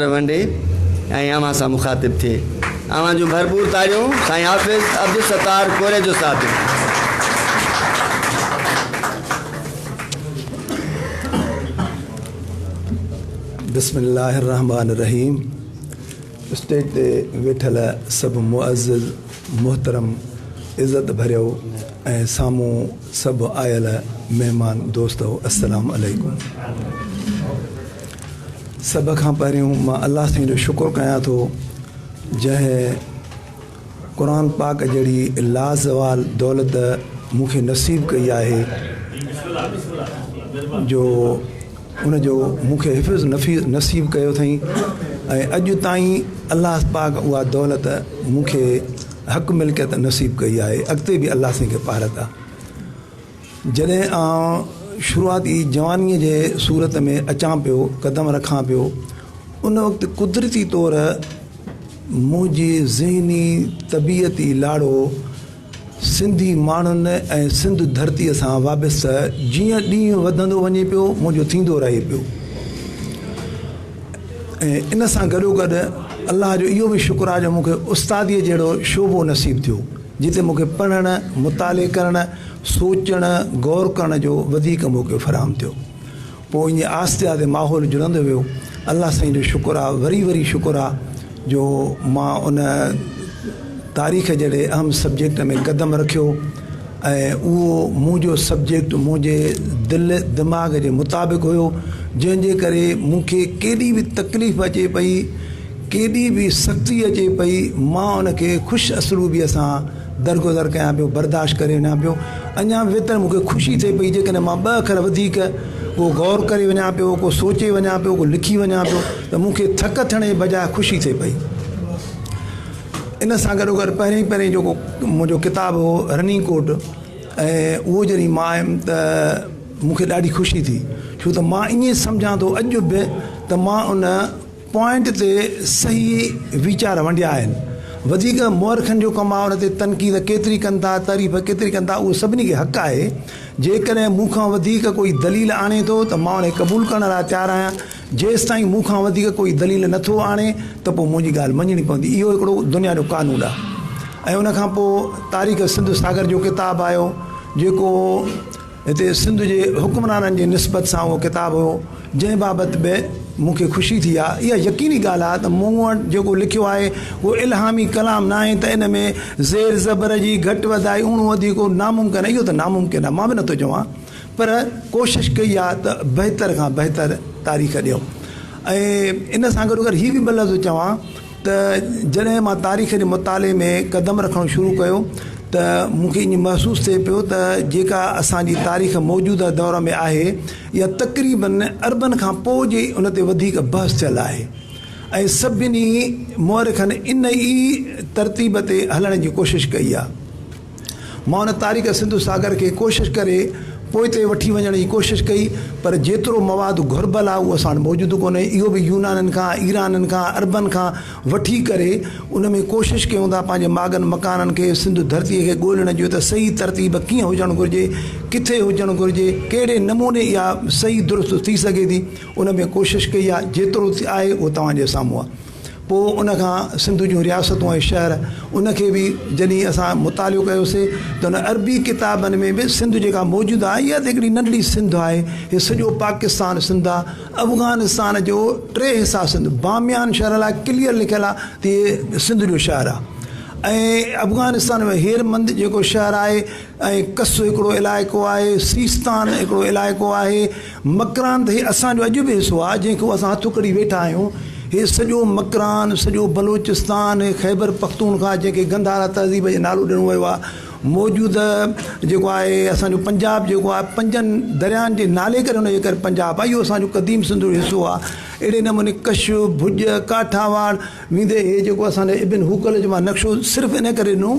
ونڊي ۽ اوهان سان مخاطب ٿئي. اوهان جون ڀرپور تاڙيون سائين حافظ عبدالستار ڪوريجو صاحب جي لاء. بسم الله الرحمٰن الرحيم اسٽيج تي ويٺل سڀ معزز محترم عزت ڀريو ۽ سامهون سڀ آيل مهمان دوستو السلام عليڪم سڀ کان پهريون مان الله سائين جو شڪر ڪيان ٿو جنهن قرآن پاڪ جهڙي لازوال دولت مون کي نصيب ڪئي آهي جو ان جو مون کي حفظ نفيس نصيب ڪيو اٿئي ۽ اڄ تائين الله پاڪ اها دولت مون کي حق ملڪيت نصيب ڪئي آهي اڳتي به الله سائين کي پارت آ جڏهن آئون شروعات ئي جوانيء جي صورت ۾ اچان پيو، قدم رکان پيو، ان وقت قدرتي طور منهن جي ذهني طبيعتي لاڙو سنڌي ماڻهن ۽ سنڌ ڌرتيء سان وابسته جيئن ڏينهن وڌندو وڃي پيو، منهنجو ٿيندو رهي پيو ۽ ان سان گڏوگڏ الله جو اهو به شڪر آهي جو مون کي استاديء جهڙو شعبو نصيب ٿيو. جتي مون کي پڙهڻ، مطالعي ڪرڻ، سوچڻ، غور ڪرڻ جو وڌيڪ موقعو فراهم ٿيو. پوء ائين آهستي آهستي ماحول جڙندو ويو. الله سائين جو شڪر آهي، وري وري شڪر آهي جو مان ان تاريخ جهڙي اهم سبجيڪٽ ۾ قدم رکيو ۽ اهو منهنجو سبجيڪٽ منهنجي دل دماغ جي مطابق هيو جنهن جي ڪري مون کي ڪيڏي به تڪليف اچي پئي، ڪيڏي به سختي اچي پئي، مان ان کي خوش اسلوبيء سان درگذر ڪيان پيو، برداشت ڪري وڃان پيو. اڃا به ويتر مون کي خوشي ٿئي پئي، جيڪڏهن مان ٻه اکر وڌيڪ ڪو غور ڪري وڃان پيو، ڪو سوچي وڃان پيو، ڪو لکي وڃان پيو ته مون کي ٿڪ ٿيڻ جي بجاء خوشي ٿئي پئي. ان سان گڏوگڏ پهرين پهرين جيڪو منهنجو ڪتاب هو رننگ ڪوٽ ۽ اهو جڏهن مان آيم ته مون کي ڏاڍي خوشي ٿي، ڇو ته مان ائين سمجهان ٿو اڄ به ته مان ان پوائنٽ تي صحيح ويچار ونڊيا آهن. وڌيڪ مؤرخن جو ڪم آهي ان تي تنقيد ڪيتري ڪن ٿا تعريف ڪيتري ڪن ٿا اهو سڀني کي حق آهي. جيڪڏهن مون کان وڌيڪ ڪوئي دليل آڻي ٿو ته مان ان کي قبول ڪرڻ لاء تيار آهيان جيستائين مون کان وڌيڪ ڪوئي دليل نه ٿو آڻي ته پوء منهنجي ڳالهه مڃڻي پوندي اهو هڪڙو دنيا جو قانون آهي ۽ ان کان پوء تاريخ سنڌ ساگر جو ڪتاب آيو جيڪو هتي سنڌ جي حڪمرانن جي نسبت سان اهو ڪتاب هو، جنهن بابت به مون کي خوشي ٿي آهي. اها يقيني ڳالهه آهي ته مون وٽ جيڪو لکيو آهي، اهو الهامي ڪلام ناهي ته ان ۾ زير زبر جي گهٽ وڌائي، اڻو وڌيڪو ناممڪن آهي. اهو ته ناممڪن آهي، مان به نٿو چوان، پر ڪوشش ڪئي آهي ته بهتر کان بهتر تاريخ ڏيون ۽ ان سان گڏوگڏ هي به ٻه لفظ چوان، ته جڏهن مان تاريخ جي مطالعي ۾ قدم رکڻ شروع ڪيو ته مون کي ائين محسوس ٿئي پيو ته جيڪا اسان جي تاريخ موجوده دور ۾ آهي اها تقريبن اربن کان پوء جي ان تي وڌيڪ بحث ٿيل آهي ۽ سڀني مؤرخن ان ئي ترتيب تي هلڻ جي ڪوشش ڪئي آهي. مان ان تاريڪ سنڌو ساگر کي ڪوشش ڪري پوئتي وٺي وڃڻ جي ڪوشش ڪئي پر جيترو مواد گهربل آ اهو اسان وٽ موجود ڪونهي اهو به يونانن کان ايرانن کان عربن کان وٺي ڪري ان ۾ ڪوشش ڪيون ٿا پنهنجي ماڳن مڪانن کي سنڌو ڌرتي کي ڳولڻ جي ته صحيح ترتيب ڪيئن هجڻ گهرجي ڪٿي هجڻ گهرجي ڪهڙي نموني اها صحيح درست ٿي سگهي ٿي ان ۾ ڪوشش ڪئي آ جيترو آهي اهو توهان جي سامهون آ. پوء ان کان سنڌ جون رياستون ۽ شهر ان کي به جڏهن اسان مطالعو ڪيوسي ته ان عربي ڪتابن ۾ به سنڌ جيڪا موجوده آهي اها ته هڪڙي ننڍڙي سنڌ آهي هي سڄو پاڪستان سنڌ آهي افغانستان جو ٽي حصا سنڌ باميان شهر لاء ڪليئر لکيل آهي ته هي سنڌ جو شهر آهي ۽ افغانستان ۾ هير مند جيڪو شهر آهي ۽ ڪس هڪڙو علائقو آهي سيستان هڪڙو علائقو آهي مڪران ته هي اسان جو اڄ به حصو آهي، جنهن کي اسان هٿ اکڙي ويٺا آهيون. هي سڄو مڪران، سڄو بلوچستان ۽ خيبر پختونخواه جنهن کي گنڌارا تهذيب جو نالو ڏنو ويو آهي، موجوده جيڪو آهي اسان جو پنجاب جيڪو آهي پنجن درياهن جي نالي ڪري ان جي ڪري پنجاب آهي. اهو اسان جو قديم سنڌ جو حصو آهي. اهڙي نموني ڪش، ڀڄ، ڪاٺياواڙ ويندي هي جيڪو اسان جي ابن هوڪل جي مان نقشو صرف ان ڪري ڏنو.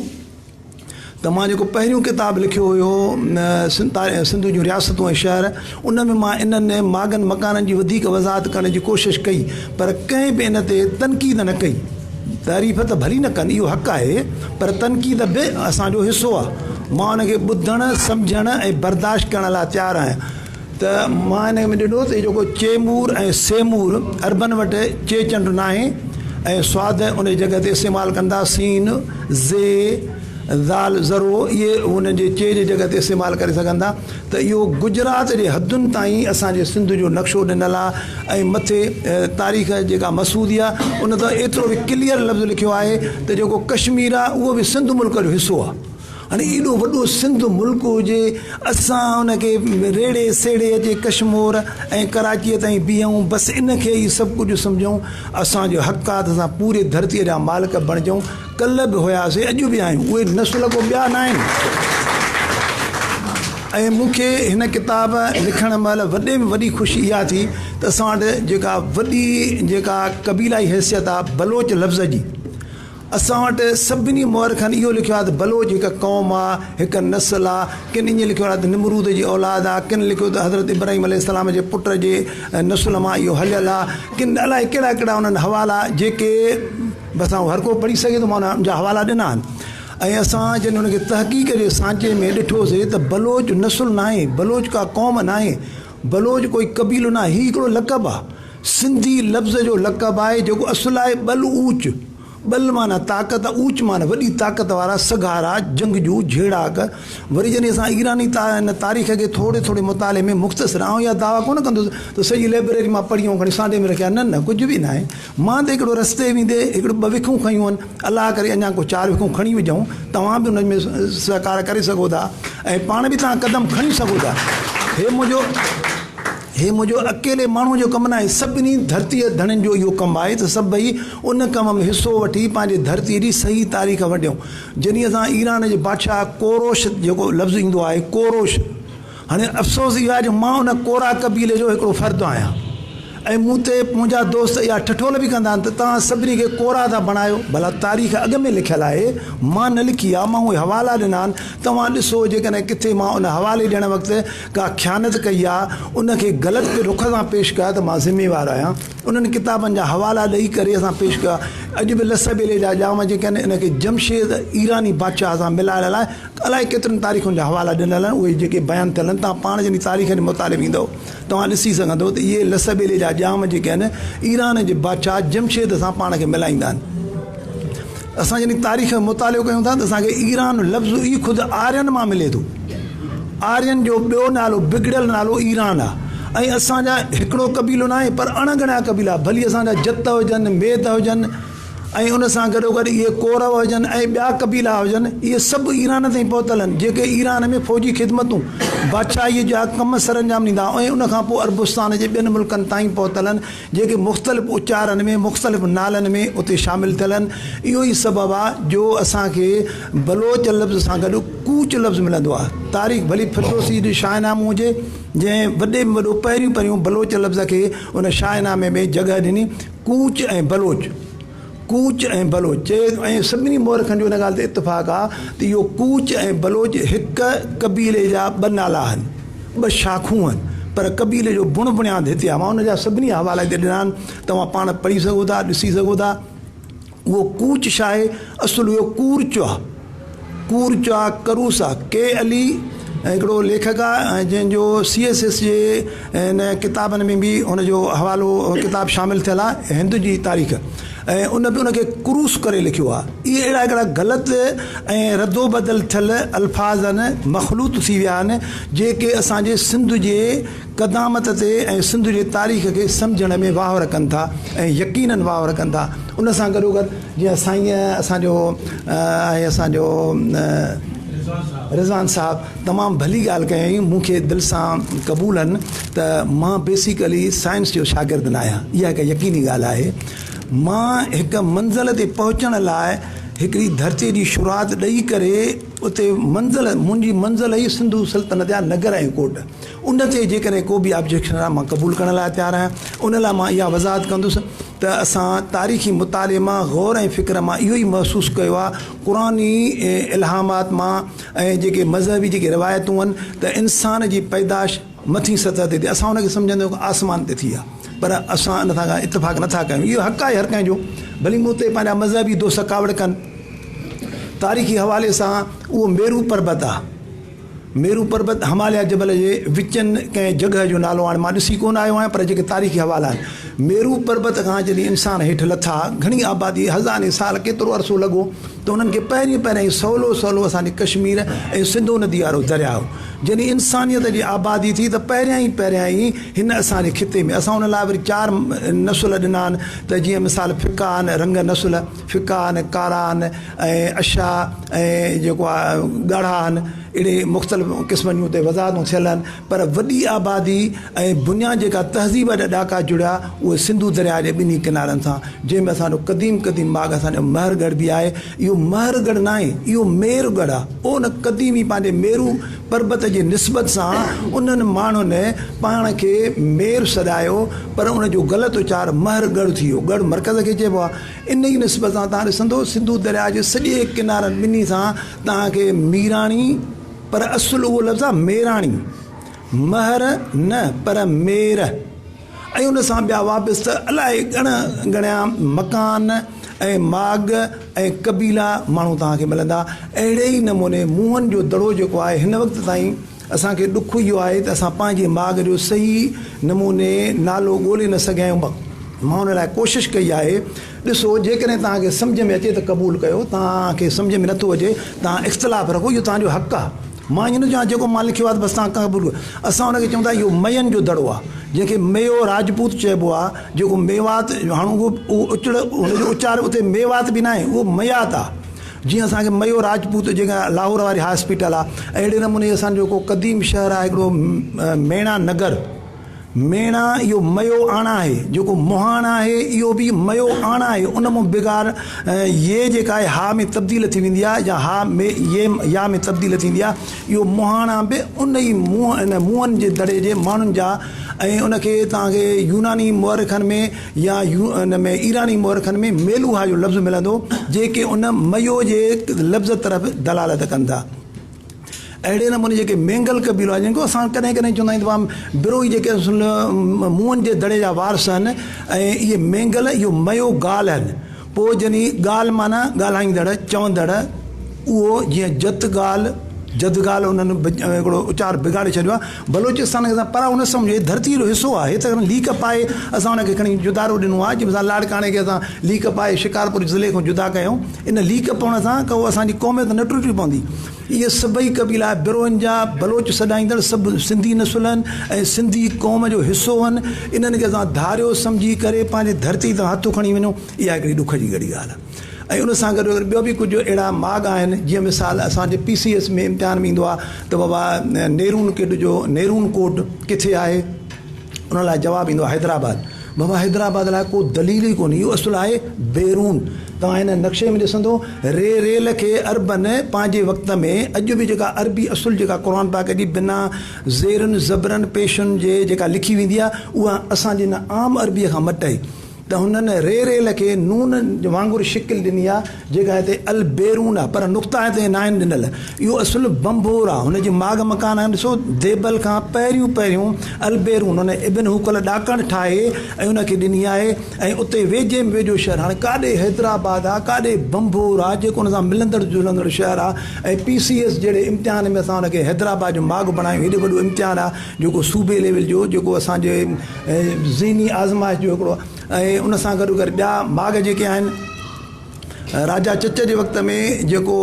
ته مان جيڪو پهريون ڪتاب لکيو هيو سنڌ جون رياستون ۽ شهر ان ۾ مان انهن ماڳن مڪانن جي وڌيڪ وضاحت ڪرڻ جي ڪوشش ڪئي پر ڪنهن به ان تي تنقيد نه ڪئي تعريف ته ڀلي نه ڪن اهو حق آهي پر تنقيد به اسان جو حصو آهي مان ان کي ٻڌڻ سمجهڻ ۽ برداشت ڪرڻ لاء تيار آهيان ته مان هن ۾ ڏٺو ته هي جيڪو چيمور ۽ سيمور عربن وٽ چي چنڊ ناهي ۽ سواد ان جي جڳهه تي استعمال ڪندا سين، ز، ذال، ذرو اهي هن جي چي جي جڳهه تي استعمال ڪري سگهندا ته اهو گجرات جي حدن تائين اسان جي سنڌ جو نقشو ڏنل آهي ۽ مٿي تاريخ جيڪا مسعودي آهي ان ته ايترو به ڪليئر لفظ لکيو آهي ته جيڪو ڪشمير آهي اهو به سنڌ ملڪ جو حصو آهي هاڻي ايڏو وڏو سنڌ ملڪ هجي اسان ان کي ريڙهي سيڙهي اچي ڪشمور ۽ ڪراچيء تائين بيهون بس ان کي ئي سڀ ڪجهه سمجهون اسان جو حق آهي ته اسان پوري ڌرتيء جا مالڪ بڻجون ڪلهه به هياسين اڄ به آهيون اهي نسل ڪو ٻيا ناهن ۽ مون کي هن ڪتاب لکڻ مهل وڏي ۾ وڏي خوشي اها ٿي ته اسان وٽ جيڪا وڏي جيڪا قبيلائي حيثيت آهي بلوچ لفظ جي اسان وٽ سڀني مؤرخن اهو لکيو آهي ته بلوچ هڪ قوم آ، هڪ نسل آ، ڪن ائين لکيو آهي ته نمرود جي اولاد آ، ڪن لکيو ته حضرت ابراهيم عليه السلام جي پٽ جي نسل مان اهو هليل آ، ڪن الائي ڪهڙا ڪهڙا انهن حوالا جيڪي به اسان هر ڪو پڙهي سگهي ٿو مان ان جا حوالا ڏنا آهن ۽ اسان جڏهن ان کي تحقيق جي سانچي ۾ ڏٺو سي ته بلوچ نسل ناهي، بلوچ ڪا قوم ناهي، بلوچ ڪوئي قبيلو ناهي، هي هڪڙو لقب آ. سنڌي لفظ جو لقب آهي جيڪو اصل آهي ٻل اوچ، ٻل معنيٰ طاقت ۽ اوچ معنيٰ وڏي طاقت وارا، سگهارا، جنگجو، جهيڙاڪ. وري جڏهن اسان ايراني تاريخ کي ٿوري ٿوري مطالعي ۾ مختصر آئون اها دعويٰ ڪونه کندس ته سڄي لئبريري مان پڙهي آئون کڻي سانڍي ۾ رکي آهي نه نه ڪجهه به ناهي مان ته هڪڙو رستي ويندي هڪڙو ٻه وکون کنيون آهن الله ڪري اڃا ڪو چار وکون کڻي وجهون توهان به انهن ۾ سهڪار ڪري سگهو ٿا ۽ پاڻ به توهان قدم کڻي سگهو ٿا هي منهنجو هي منهنجو اڪيلي ماڻهوء جو ڪم ناهي، سڀني ڌرتيء جي ڌڻين جو اهو ڪم آهي ته سڀئي ان ڪم ۾ حصو وٺي پنهنجي ڌرتيء جي صحيح تاريخ ونڊيون. جنهن اسان ايران جي بادشاهه ڪوروش جيڪو لفظ ايندو آهي ڪوروش هاڻي افسوس اهو آهي جو مان ان ڪورا قبيلي جو هڪڙو فرد آهيان ۽ مون تي منهنجا دوست اها ٺٺول به ڪندا آهن ته توهان سڀني کي ڪورا ٿا بڻايو. ڀلا تاريخ اڳ ۾ لکيل آهي، مان نه لکي آهي، مان اهي حوالا ڏنا آهن، توهان ڏسو جيڪڏهن ڪٿي مان ان حوالي ڏيڻ وقت ڪا خيانت ڪئي يا ان کي غلط رخ سان پيش ڪيو ته مان ذميوار آهيان انهن ڪتابن جا حوالا ڏئي ڪري اسان پيش ڪيو آهي اڄ به لسه ٻيلي جا ڄام جيڪي آهن ان کي جمشيد ايراني بادشاهه سان ملائڻ لاء الائي ڪيترين تاريخن جا حوالا ڏنل آهن اهي جيڪي بيان ٿيل آهن توهان پاڻ جڏهن تاريخ جي مطالعي ۾ ايندو توهان ڏسي سگهندو ته اهي لسه ٻيلي جا ڄام جيڪي آهن ايران جي بادشاهه جمشيد سان پاڻ کي ملائيندا آهن اسان جڏهن تاريخ جو مطالعو ڪيون ٿا ته اسان کي ايران لفظ ئي خود آرين مان ملي ٿو. آرين جو ٻيو نالو، بگڙيل نالو ايران آ ۽ اسان جا هڪڙو قبيلو ناهي پر اڻ ڳڻيا قبيلا ڀلي اسان جا جت هجن، ميد هجن ۽ ان سان گڏوگڏ اهي ڪورو هجن ۽ ٻيا قبيلا هجن اهي سڀ ايران تائين پهتل آهن جيڪي ايران ۾ فوجي خدمتون، بادشاهي جا ڪم سرانجام ڏيندا ۽ ان کان پوء عربستان جي ٻين ملڪن تائين پهتل آهن جيڪي مختلف اچارن ۾ مختلف نالن ۾ اتي شامل ٿيل آهن اهو ئي سبب آهي جو اسان کي بلوچ لفظ سان گڏ ڪوچ لفظ ملندو آهي تاريخ ڀلي فردوسي جي شاهه نامو هجي جنهن وڏي ۾ وڏو پهريون پهريون بلوچ لفظ کي ان شاهه نامي ۾ جڳهه ڏني ڪوچ ۽ بلوچ ڪوچ ۽ بلوچ چئي ۽ سڀني مورخن جو ان ڳالهه تي اتفاق آهي ته اهو ڪوچ ۽ بلوچ هڪ قبيلي جا ٻه نالا آهن ٻه شاخون آهن پر قبيلي جو بڻ بڻياد هتي آهي مان ان جا سڀني حوالا هتي ڏنا آهن توهان پاڻ پڙهي سگهو ٿا ڏسي سگهو ٿا اهو ڪوچ شاهي اصل هيو ڪورچ آهي ڪورچا ڪروسا، ڪي علي ۽ هڪڙو ليکڪ آهي ۽ جنهن جو سي ايس ايس جي هن ڪتابن ۾ به هن جو حوالو ڪتاب شامل ٿيل آهي هند جي تاريخ ۽ ان به ان کي ڪروس ڪري لکيو آهي اهي اهڙا هڪڙا غلط ۽ ردو بدل ٿيل الفاظ آهن مخلوط ٿي ويا آهن جيڪي اسان جي سنڌ جي قدامت تي ۽ سنڌ جي تاريخ کي سمجهڻ ۾ واهور ڪن ٿا ۽ يقينن واهور ڪن ٿا ان سان گڏو گڏ جيئن سائين اسان جو ۽ اسان جو رضوان صاحب تمام ڀلي ڳالهه ڪيائين مون کي دل سان قبول آهن ته مان بيسيڪلي سائنس جو شاگرد نه آهيان اها هڪ يقيني ڳالهه آهي مان هڪ منزل تي پهچڻ لاء هڪڙي ڌرتي جي شروعات ڏئي ڪري اتي منزل منهنجي منزل هئي سنڌو سلطنت جا نگر ۽ ڪوٽ ان تي جيڪڏهن ڪو به آبجيڪشن آهي مان قبول ڪرڻ لاء تيار آهيان. ان لاء مان اها وضاحت ڪندس ته اسان تاريخي مطالعي مان غور ۽ فڪر مان اهو ئي محسوس ڪيو آهي قرآني الهامات مان ۽ جيڪي مذهبي جيڪي روايتون آهن ته انسان جي پيدائش مٿين سطح تي ٿي اسان ان کي سمجهندا آهيون ته آسمان تي ٿي آهي پر اسان ان سان ڪا اتفاق نه ٿا ڪيون اهو حق آهي هر ڪنهن جو ڀلي مون تي پنهنجا مذهبي دوست ڪاوڙ ڪن تاريخي حوالي سان اهو ميرو پربت آهي. ميرو پربت هماليا جبل جي وچن ڪنهن جڳهه جو نالو آهن. مان ڏسي ڪونه آيو آهيان پر جيڪي تاريخي حوالا آهن. ميرو پربت کان جڏهن انسان هيٺ لٿا، گهڻي آبادي، هزارين سال، ڪيترو عرصو لڳو ته انهن کي پهرين پهريائين سولو سولو اسان جي ڪشمير ۽ سنڌو ندي وارو درياء هو. جڏهن انسانيت جي آبادي ٿي ته پهريائين پهريائين هن اسان جي خطي ۾ اسان ان لاء وري چار نسل ڏنا آهن ته جيئن مثال فڪا آهن، رنگ نسل، ڦڪا آهن، ڪارا آهن ۽ اشا ۽ جيڪو آ ڳاڙها آهن، اهڙي مختلف قسمن جون اتي وضاحتون ٿيل آهن، پر وڏي آبادي ۽ بنيان جيڪا تهذيب جا ڏاڪا جڙيا اهي سنڌو درياء جي ٻنهي ڪنارن سان جنهن ۾ اسان جو قديم قديم ماڳ اسان جو مهر ڳڙهه به آهي اهو مهر ڳڙهه ناهي اهو مير ڳڙهه آ ان قديم ئي پنهنجي ميرو پربت جي نسبت سان انهن ماڻهن پاڻ کي مير سڏايو پر ان جو غلط اچار مهر ڳڙهه ٿي ويو ڳڙهه مرڪز کي چئبو آ. انهيء نسبت سان توهان ڏسندؤ سنڌو درياء جي سڄي ڪنارن ٻنهي سان توهان کي ميراڻي پر اصل اهو لفظ آهي ميراڻي، مهر نه پر مير ۽ ان سان ٻيا وابسته الاء ڳڻ ڳڻيا مڪان ۽ ماڳ ۽ قبيلا ماڻهو توهان کي ملندا. اهڙي ئي نموني موهن جو دڙو جيڪو آهي هن وقت تائين اسان کي ڏک اهو آهي ته اسان پنهنجي ماڳ جو صحيح نموني نالو ڳولي نه سگهيا آهيون. مان ان لاء ڪوشش ڪئي آهي. ڏسو، جيڪڏهن توهان کي سمجهه ۾ اچي ته قبول ڪيو، توهان کي سمجهه ۾ نٿو اچي، توهان اختلاف رکو، اهو توهان جو حق آهي. مان ائين نٿو چوان جيڪو مان لکيو آهي ته بس توهان قبول ڪريو. اسان ان کي چئون ٿا اهو مين جو دڙو آهي، جنهن کي ميو راجپوت چئبو آهي، جيڪو ميوات، هاڻ اهو اهو اچڙ ان جو اچار اتي ميوات به ناهي، اهو ميات آهي. جيئن اسان کي ميو راجپوت جيڪا لاهور واري هاء اسپيٽل آ اهڙي نموني اسان جو هڪڙو قديم شهر آهي هڪڙو ميڻا نگر ميڻا اهو ميو آڻا آهي جيڪو مهاڻ آهي اهو به ميو آڻا آهي ان مون بغار يه جيڪا آهي هاء ۾ تبديل ٿي ويندي آهي يا هاء مي يه يا ۾ تبديل ٿيندي آهي اهو مهاڻا به ان ئي مون ان مونهن جي دڙي جي ماڻهن جا ۽ ان کي توهان کي يوناني مؤرخن ۾ يا يو ان ۾ ايراني مؤرخن ۾ ميلوها جو لفظ ملندو جيڪي ان ميو جي لفظ طرف دلالت ڪن ٿا اهڙي نموني جيڪي مينگل قبيلو آهن جن کي اسان ڪڏهن ڪڏهن چوندا آهيون ته وا بروهي جيڪي اصل مون جي دڙي جا وارث آهن ۽ اهي مينگل اهو ميو گال آهن پوء جني ڳالهه معنيٰ ڳالهائيندڙ، چوندڙ، اهو جيئن جت ڳالهه، جد ڳالهه انهن هڪڙو اچار بگاڙي ڇڏيو آهي. بلوچستان کي پرائو نه سمجهي ڌرتيء جو حصو آهي ته ليڪ پائي اسان ان کي کڻي جدارو ڏنو آهي جنهن سان لاڙڪاڻي کي اسان ليڪ پائي شڪارپور ضلعي کان جدا ڪيائون. ان ليڪ پوڻ سان ڪو اسان جي قوميت نه ٽٽي پوندي. اهي سڀئي قبيلا بروهن جا بلوچ سڏائيندڙ سڀ سنڌي نسل هن ۽ سنڌي قوم جو حصو هن انهن کي اسان ڌاريو سمجهي ڪري پنهنجي ڌرتي تان هٿ کڻي وڃون اها هڪڙي ڏک جي ڳڙهي ڳالهه آهي ۽ ان سان گڏو گڏ ٻيو به ڪجهه اهڙا ماڳ آهن جيئن مثال اسان جي پي سي ايس ۾ امتحان ۾ ايندو آهي ته بابا نيرون ڪيڊ جو نيرون ڪوڊ ڪٿي آهي ان لاء جواب ايندو آهي حيدرآباد بابا حيدرآباد لاء ڪو دليل ئي ڪونهي اهو اصل آهي بيرون توهان هن نقشي ۾ ڏسندو ري ريل کي عربن پنهنجي وقت ۾ اڄ به جيڪا عربي اصل جيڪا قرآن پاڪ جي بنا زيرن زبرن پيشن جي جيڪا لکي ويندي آهي اها اسان جي هن عام عربي کان مٽئي ته هنن ري ريل کي نون وانگر شڪل ڏني آهي جيڪا هتي البيرون آهي پر نقطا هتي ناهن ڏنل. اهو اصل بنڀور آهي. هن جي ماڳ مڪان آهن. ڏسو ديبل کان پهريون پهريون البيرون هن ابن هوڪل ڏاڪڻ ٺاهي ۽ ان کي ڏني آهي ۽ اتي ويجهي ۾ ويجهو شهر هاڻي ڪاڏي حيدرآباد آهي ڪاڏي بنڀور آهي جيڪو ان سان ملندڙ جلندڙ شهر آهي ۽ پي سي ايس جهڙي امتحان ۾ اسان ان کي حيدرآباد جو ماڳ بڻايون هيڏو وڏو امتحان آهي جيڪو صوبي ليول جو جيڪو اسان جي ذهني آزمائش جو هڪڙو ۽ ان سان گڏو گڏ ٻيا ماڳ جيڪي آهن راجا چچ جي وقت ۾ جيڪو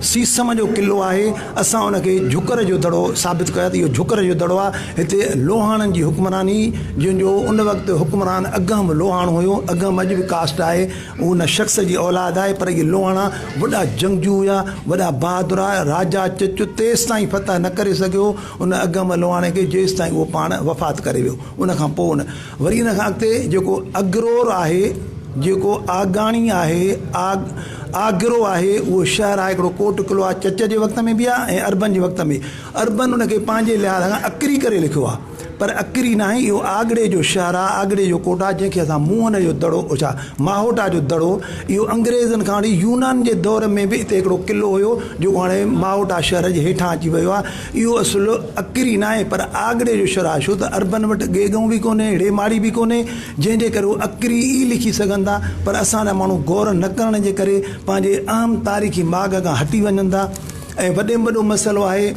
سيسم جو قلعو آهي اسان ان کي جهڪر جو دڙو ثابت ڪيو آهي ته اهو جهڪر جو دڙو آهي هتي لوهاڻن جي حڪمراني جن جو ان وقت حڪمران اگهم به لوهاڻو هيو اگهم اڄ به ڪاسٽ آهي ان شخص جي اولاد آهي پر اهي لوهاڻا وڏا جنگجو هيا وڏا بهادر هيا راجا چچ تيستائين فتح نه ڪري سگهيو ان اگهم لوهاڻي کي جيستائين اهو پاڻ وفات ڪري ويو ان کان پوء ان وري ان کان اڳتي جيڪو اگرور آهي، جيڪو آگاڻي آهي، آگ، آگرو آهي، اهو شهر آهي هڪڙو ڪوٽ قلعو آهي چچ جي وقت ۾ به آهي ۽ اربن جي وقت ۾ اربن ان کي پنهنجي لحاظ کان اڪري ڪري لکيو آهي پر اڪري ناهي اهو آگڙي جو شهر آهي آگڙي جو ڪوٽ آهي جنهن کي اسان موهن جو دڙو ڇا ماهوٽا جو دڙو اهو انگريزن کان وٺي يونان جي دور ۾ به هتي هڪڙو قلعو هيو جيڪو هاڻي ماهوٽا شهر جي هيٺان اچي ويو آهي اهو اصل اڪر ئي ناهي پر آڳڙي جو شرح ڇو ته عربن وٽ گيگون به ڪونهي اهڙي ماڙي به ڪونهي جنهن جي ڪري هو اڪر ئي لکي سگهن ٿا پر اسان جا ماڻهو غور نه ڪرڻ جي ڪري پنهنجي اهم تاريخي ماڳ کان هٽي وڃن ٿا ۽ وڏي ۾ وڏو مسئلو آهي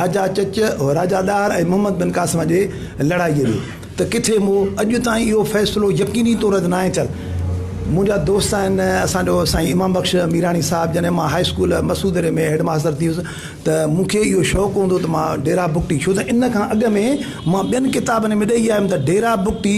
راجا چچ راجا ڏاهر ۽ محمد بن قاسم جي لڙائي جو. ته ڪٿي مون اڄ تائين اهو فيصلو يقيني طور تي ناهي ٿيل. منهنجا دوست آهن، اسان جو سائين امام بخش ميراڻي صاحب جڏهن مان هاء اسڪول مسعودڙي ۾ هيڊ ماستر ٿي ويس ته مون کي اهو شوق هوندو ته مان ڊيرا بگٽي ڇو ته ان کان اڳ ۾ مان ٻين ڪتابن ۾ ڏئي آيم ته ڊيرا بگٽي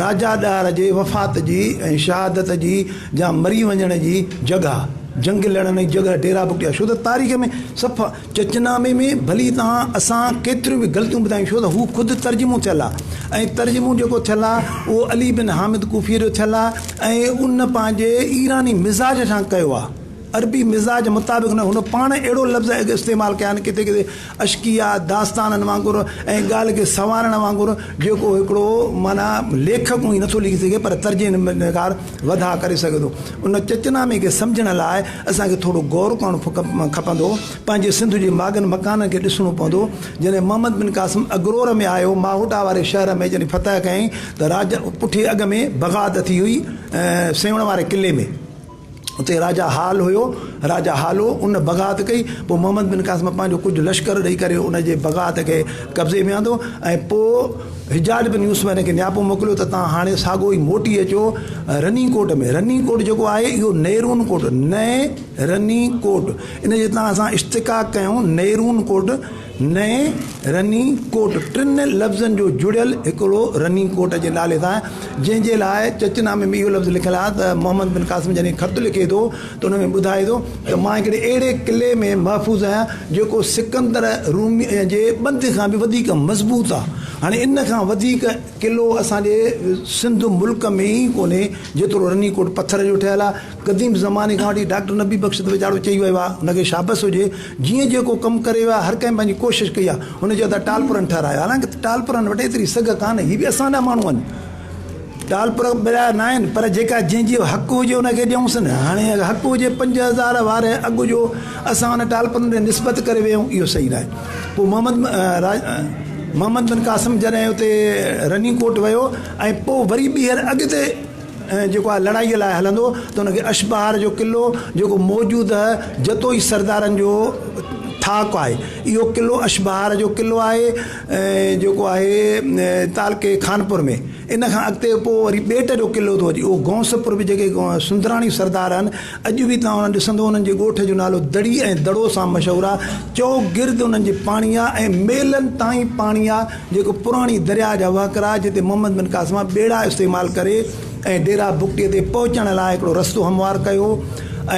راجا ڏاهر جي وفات جي ۽ شهادت جي يا مري وڃڻ جي جڳهه جنگ لڙڻ جي جڳهه ڊيرا بگٽي آهي ڇو ته تاريخ ۾ صفا چچنامي ۾ ڀلي توهان اسان ڪيتريون به غلطيون ٻڌايون ڇو ته هو خود ترجمو ٿيل آهي ۽ ترجمو جيڪو ٿيل آهي اهو علي بن حامد ڪوفيء جو ٿيل آهي ۽ ان پنهنجي ايراني مزاج سان ڪيو آهي عربي مزاج مطابق نه هن پاڻ اهڙو لفظ استعمال ڪيا آهن ڪٿي ڪٿي اشڪيا داستانن وانگر ۽ ڳالهه کي سنوارڻ وانگر جيڪو هڪڙو معنيٰ ليکڪ اونهي نٿو لکي سگهي پر ترجمو نگار وڌاء ڪري سگهي ٿو. ان چچ نامي کي سمجهڻ لاء اسان کي ٿورو غور ڪرڻو کپندو. پنهنجي سنڌ جي ماڳن مڪانن کي ڏسڻو پوندو. جڏهن محمد بن قاسم اگرور ۾ آيو، ماهوٽا واري شهر ۾ جڏهن فتح ڪيائين ته راجا پٺي اڳ ۾ بغاوت اٿي هئي سيوهڻ واري قلعي ۾. اتي راجا هال هيو، راجا هالو، ان بغاوت ڪئي. پوء محمد بن قاسم پنهنجو ڪجهه لشڪر ڏئي ڪري ان جي بغاوت کي قبضي ۾ آندو ۽ پوء. حجاج بن يوسف هن کي نياپو موڪليو ته تان هاڻي ساڳو ئي موٽي اچو رني ڪوٽ ۾، رني ڪوٽ جيڪو آهي اهو نيرون ڪوٽ، نئين رني ڪوٽ، ان جي تان اسان اشتقاق ڪيون نيرون ڪوٽ، نئين رني ڪوٽ، ٽن لفظن جو جڙيل هڪڙو رني ڪوٽ جي نالي سان جنهن جي لاء چچ نامي ۾ اهو لفظ لکيل آهي ته محمد بن قاسم جڏهن خط لکي ٿو ته ان ۾ ٻڌائي ٿو ته مان هڪڙي اهڙي قلعي ۾ محفوظ آهيان جيڪو سڪندر رومي جي ٻنڌ کان به وڌيڪ مضبوط آهي. هاڻي ان کان وڌيڪ قلعو اسان جي سنڌ ملڪ ۾ ئي ڪونهي جيترو رني ڪوٽ پٿر جو ٺهيل آهي. قديم زماني کان وٺي ڊاڪٽر نبي بخش ويجاڙو چئي ويو آهي ان کي شابس هجي جيئن جيڪو ڪم ڪري ويو آهي هر ڪنهن پنهنجي ڪوشش ڪئي آهي هن چيو ته ٽالپرن ٺهرايو آهي حالانڪه ٽالپرن وٽ ايتري سگهه ڪانهي هي به اسان جا ماڻهو آهن. ٽالپر مليا ناهن پر جيڪا جنهن جي حق هجي ان کي ڏيونسن هاڻي اگر حق هجي پنج هزار واري اگهه جو اسان ان ٽالپرن ڏي نسبت ڪري ويهون اهو صحيح ناهي پوء محمد محمد بن قاسم جڏهن اتي رني ڪوٽ ويو ۽ پوء وري ٻيهر اڳتي جيڪو آهي لڙائي لاء هلندو ته ان کي اشبهار جو قلعو جيڪو موجوده جتوئي سردارن جو ٿاڪ آهي اهو قلعو اشبهار جو قلعو آهي جيڪو آهي تعلقي خانپور ۾، ان کان اڳتي پوء وري ٻيٽ جو قلعو ٿو اچي، اهو گونس پور به جيڪي سندراڻي سردار آهن، اڄ به توهان انهن ڏسندو انهن جي ڳوٺ جو نالو دڙي ۽ دڙو سان مشهور آهي، چؤگرد انهن جي پاڻي آهي ۽ ميلن تائين پاڻي آهي، جيڪو پراڻي درياهه جا وهڪرا جتي محمد بن قاسم ٻيڙا استعمال ڪري، ۽ ڊيرا بگٽي تي پهچڻ لاء هڪڙو رستو هموار ڪيو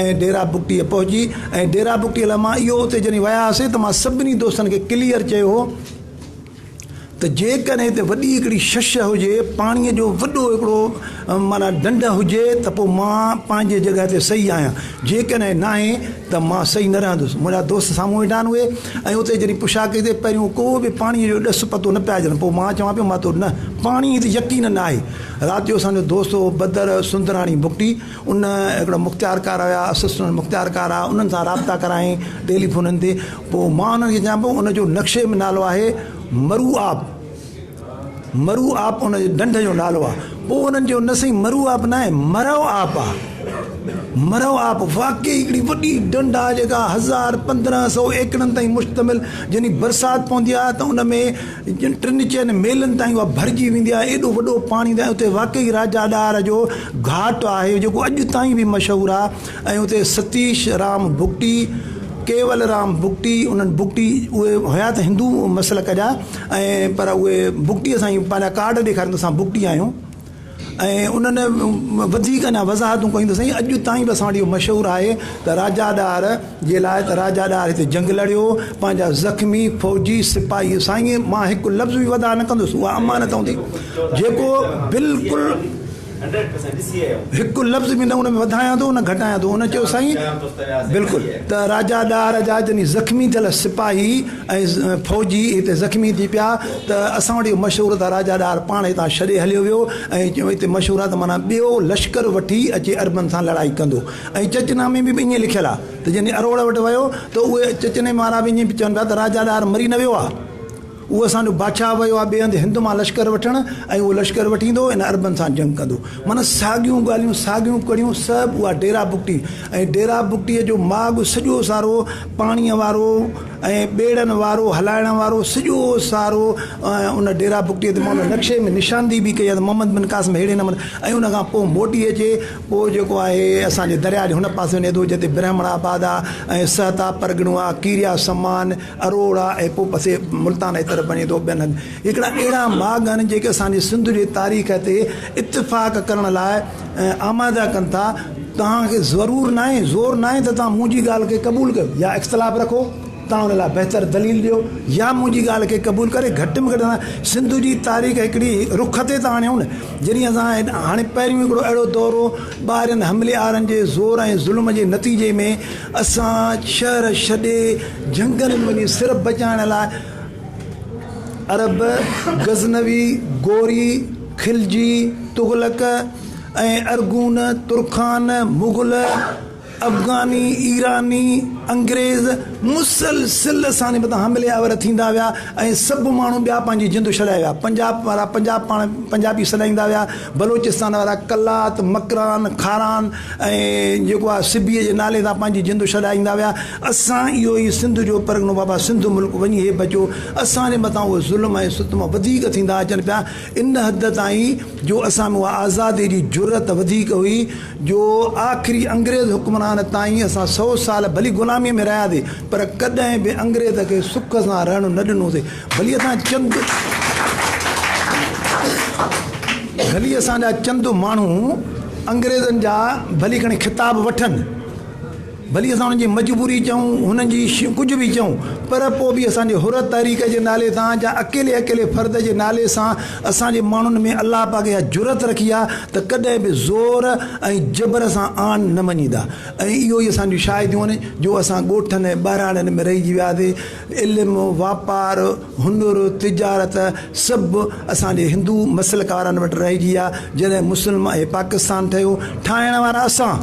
۽ ڊيرا بگٽي پهچي ۽ ڊيرا بگٽي لاء مان اهو اتي جڏهن ويا هئاسين ته مان سڀني دوستن کي ڪليئر چيو هو ته جيڪڏهن هتي وڏي هڪڙي شش هجي پاڻي جو وڏو هڪڙو معنيٰ ڍنڍ هجي ته پوء مان پنهنجي جڳهه تي صحيح آهيان جيڪڏهن ناهي ته مان صحيح نه رهندس منهنجا دوست سامهون ويٺا آهن اهي ۽ اتي جڏهن پڇا ڪئي ته پهريون ڪو به پاڻي جو ڏس پتو نه پيا ڏين پوء مان چوان پيو مان تو نه پاڻي تي يقين ناهي رات جو اسان جو دوست هو بدر سندراڻي بگٽي ان هڪڙا مختيار ڪار هيا اسسٽنٽ مختيار ڪار آ انهن سان رابطا ڪرايائين ٽيلي فونن تي پو مان انهن کي چيان پيو ان جو نقشي ۾ نالو آهي مرو آب مرو آب ان جي ڍنڍ جو نالو آ پو انهن چيو نه سائين مرو آب ناهي مرو آب آ مرو آب واقعي هڪڙي وڏي ڍنڍ آ جيڪا هزار پندرهن سئو ايڪڙن تائين مشتمل جني برسات پوندي آ ته ان ۾ جن ٽن چئن ميلن تائين اها ڀرجي ويندي آهي، ايڏو وڏو پاڻي هوندي آهي، اتي واقعي راجا ڏاهر جو گهاٽ آهي، جيڪو اڄ تائين به مشهور آهي ۽ اتي ستيش رام بگٽي، ڪيول رام بگٽي، انهن بگٽي اهي هيا ته هندو مسلڪ جا ۽ پر اهي بگٽي سان ئي پنهنجا ڪارڊ ڏيکارين ته اسان بگٽي آهيون. ۽ انهن وڌيڪ اڃا وضاحتون ڪيون ته سائين اڄ تائين به اسان وٽ اهو مشهور آهي ته راجا ڏاهر جي لاء ته راجا ڏاهر هتي جنگ لڙيو پنهنجا زخمي فوجي سپاهي سائين مان هڪ لفظ به وڌاء نه ڪندس اها امانت هوندي جيڪو بلڪل هڪ لفظ به نه ان ۾ وڌايان ٿو نه گهٽايان ٿو هن چيو سائين بلڪل ته راجا ڏاهر جا جني زخمي ٿيل سپاهي ۽ فوجي هتي زخمي ٿي پيا ته اسان وٽ اهو مشهور ته راجا ڏاهر پاڻ هتان ڇڏي هليو ويو ۽ چيو هتي مشهور آهي ته معنيٰ ٻيو لشڪر وٺي اچي عربن سان لڙائي ڪندو ۽ چچ نامي ۾ به ائين لکيل آهي ته جڏهن اروڙ وٽ ويو ته اهي چچ نامي وارا به ائين چون پيا ته راجا ڏاهر مري نه ويو آهي اهو اسان جو بادشاهه ويو آهي ٻئي هنڌ هند مان لشڪر وٺڻ ۽ اهو لشڪر وٺي ايندو ۽ عربن سان جنگ ڪندو معنيٰ ساڳيون ڳالهيون ساڳيون ڪڙيون سڀ اها ڊيرا بگٽي ۽ ڊيرا بگٽي جو ماڳ سڄو سارو پاڻيء وارو ۽ ٻيڙن وارو هلائڻ وارو سڄو سارو ان ڊيرا بگٽيء تي مئل نقشي ۾ نشاندهي به ڪئي آهي ته محمد بن قاسم ههڙي نموني ۽ ان کان پوء موٽي اچي پوء جيڪو آهي اسان جي درياء جي هن پاسي وڃي ٿو جتي برهمڻ آباد آهي ۽ سهتا پرڳڻو آهي ڪيريا سمان اروڙ آهي ۽ پوء پسي ملتان جي طرف وڃي ٿو ٻين هنڌ هڪڙا اهڙا ماڳ آهن جيڪي اسان جي سنڌ جي تاريخ تي اتفاق ڪرڻ لاء ۽ آماده ڪن ٿا، توهان کي ضرور ناهي، زور ناهي ته توهان منهنجي ڳالهه کي قبول ڪيو يا اختلاف رکو، توهان ان لاء بهتر دليل ڏيو يا منهنجي ڳالهه کي قبول ڪري گهٽ ۾ گهٽ اسان سنڌ جي تاريخ هڪڙي رخ تي ته آڻيون نه جڏهن اسان هاڻي پهريون هڪڙو اهڙو دور هو ٻاهرين حملي آورن جي زور ۽ ظلم جي نتيجي ۾ اسان شهر ڇڏي جهنگلن ۾ وڃي صرف بچائڻ لاء عرب غزنوي غوري خلجي، تغلق ۽ ارغون، ترخان، مغل، افغاني، ايراني، انگريز مسلسل اسان جي مٿان حملي آور ٿيندا ويا ۽ سڀ ماڻهو ٻيا پنهنجي جند ڇڏائي ويا. پنجاب وارا پنجاب پاڻ پنجابي سڏائيندا ويا، بلوچستان وارا قلات، مڪران، کاران ۽ جيڪو آهي سبيء جي نالي سان پنهنجي جند ڇڏائيندا ويا. اسان اهو ئي سنڌ جو پرڳڻو بابا سنڌ ملڪ وڃي هي بچو. اسان جي مٿان اهي ظلم ۽ ستم وڌيڪ ٿيندا اچن پيا. ان حد تائين جو اسان ۾ اها آزاديء جي جرئت وڌيڪ هئي جو آخري انگريز حڪمران تائين اسان سؤ سال ڀلي غلاميء ۾ رهياسي پر ڪڏهن به انگريز کي سک سان رهڻ نه ڏنوسي ڀلي اسان چند ڀلي اسان جا چند ماڻهو انگريزن جا ڀلي کڻي خطاب وٺن. ڀلي اسان انهن جي مجبوري چئون، انهن جي ڪجهه به چئون، پر پوء به اسان جي حرت تحريڪ جي نالي تان يا اڪيلي اڪيلي فرد جي نالي سان اسان جي ماڻهن ۾ الله پاڪ اها جرئت رکي آهي ته ڪڏهن به زور ۽ جبر سان آن نه وڃيندا ۽ اهو ئي اسان جون شاهديون آهن جو اسان ڳوٺن ۽ ٻهراڙين ۾ رهجي وياسي علم، واپار، هنر، تجارت سڀ اسان جي هندو مسلڪارن وٽ رهجي ويا، جڏهن مسلم ۽ پاڪستان ٺهيو، ٺاهڻ وارا اسان،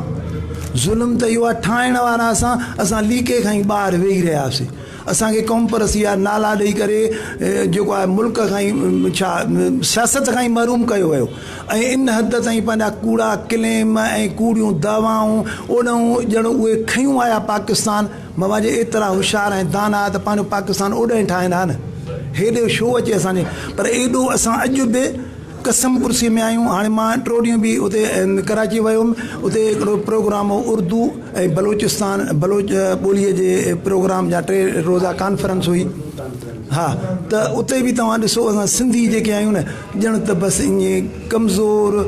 ظلم ته اهو آهي ٺاهڻ وارا اسان، اسان ليڪي کان ئي ٻاهر ويهي رهيا سي، اسان کي قومپرسي جا نالا ڏئي ڪري جيڪو آهي ملڪ کان ئي ڇا سياست کان ئي محروم ڪيو ويو ۽ ان حد تائين پنهنجا ڪوڙا ڪليم ۽ ڪوڙيون دعوائون اوڏانهون ڄڻ اهي کنيون آيا پاڪستان ماما جي ايترا هوشيار ۽ داناء ته پنهنجو پاڪستان اوڏهين ٺاهين ها نه. هيڏي ڇو اچي اسان جي پر ايڏو اسان اڄ به قسم ڪرسي ۾ آهيون. هاڻي مان ٽو ڏينهن به اتي ڪراچي ويو هيم اتي هڪڙو پروگرام هو اردو ۽ بلوچستان بلوچ ٻولي جي پروگرام جا ٽي روزا ڪانفرنس هئي ها ته اتي به توهان ڏسو اسان سنڌي جيڪي آهيون نه ڄڻ ته بس ائين ڪمزور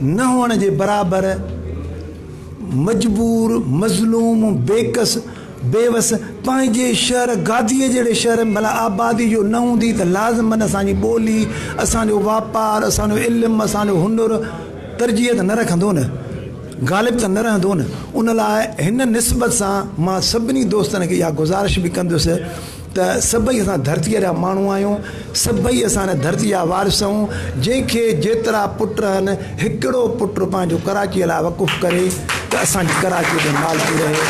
نه هئڻ جي برابر مجبور، مظلوم، بيڪس، بيوس پنهنجي شهر گاديء جهڙي شهر ۾ ڀلا آبادي جو نه هوندي ته لازمن اسان جي ٻولي، اسان جو واپار، اسان جو علم، اسان جو هنر ترجيح ته نه رکندو نه؟ غالب ته نه رهندو نه؟ ان لاء هن نسبت سان مان سڀني دوستن کي اها گذارش به ڪندس ته سڀئي اسان ڌرتيء جا ماڻهو آهيون، سڀئي اسان هن ڌرتيء جا وارث آهيون، جنهن کي جيترا پٽ رهن، هڪڙو پٽ پنهنجو ڪراچيء لاء وقف ڪري ته اسان جي ڪراچيء تي مالڪي رهي.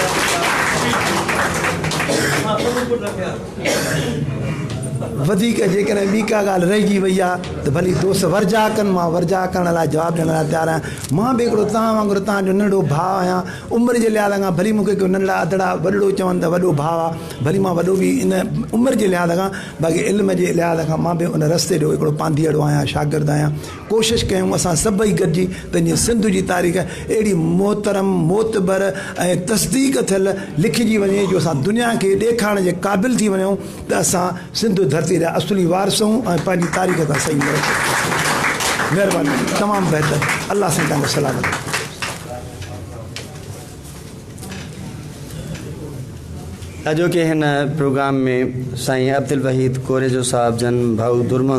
وڌيڪ جيڪڏهن ٻي ڪا ڳالهه رهجي وئي آهي ته ڀلي دوست ورجاء ڪن، مان ورجاء ڪرڻ لاء جواب ڏيڻ لاء تيار آهيان. مان به هڪڙو توهان وانگر توهان جو ننڍڙو ڀاء آهيان، عمر جي لحاظ کان ڀلي مون کي ڪو ننڍڙا، اڌڙا، وڏڙو چون ته وڏو ڀاء. ڀلي مان وڏو به ان عمر جي لحاظ کان باقي علم جي لحاظ کان مان به ان رستي جو هڪڙو پانڌيئڙو آهيان شاگرد آهيان ڪوشش ڪيون اسان سڀئي گڏجي پنهنجي سنڌ جي تاريخ اهڙي محترم معتبر ۽ تصديق ٿيل لکجي وڃي جو اسان دنيا کي ڏيکارڻ جي قابل ٿي وڃون ته اسان سنڌ ڌرتي جا اصلي وارث آهيون ۽ پنهنجي تاريخ سان صحيح ملو مهرباني تمام بهتر الله سائين توهان کي سلامت رکي. اڄوڪي هن پروگرام ۾ سائين عبدالوحيد ڪوريجو صاحب جن ڀائو درمهندو